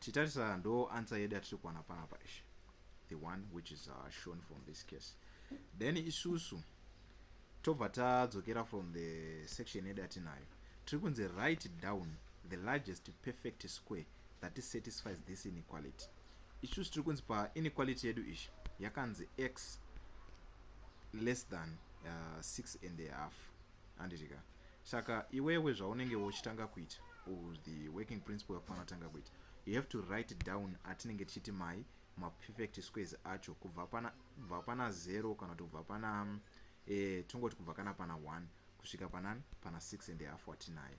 titarisa ndo answer yedu yatiri kuwana panapa ish the one which is uh, shown from this case then isusu tobva tadzokera from the section yedu yatinayo tiri kunzi write down the largest perfect square that satisfies this inequality isusu tiri kunzi painequality yedu ishi yakanzi x less than uh, 6 and a half handiti ka saka iwewe zvaunenge wochitanga kuita or the working principle yakufanira tanga kuita you have to write down atinenge tichiti mai maperfect squares acho kubva pana kubva pana zero kana kuti kubva pana eh, tongoti kubva kana pana one kusvika panani pana six and half watinaye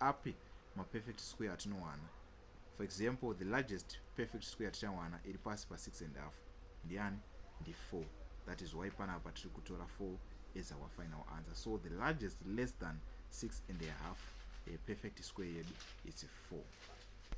api maperfect square atinowana for example the largest perfect square tichawana iri pasi pa 6 and half ndiani ndi 4 that is why panapa tiri kutora 4 as our final answer so the largest less than 6 and a half a perfect square yedu its 4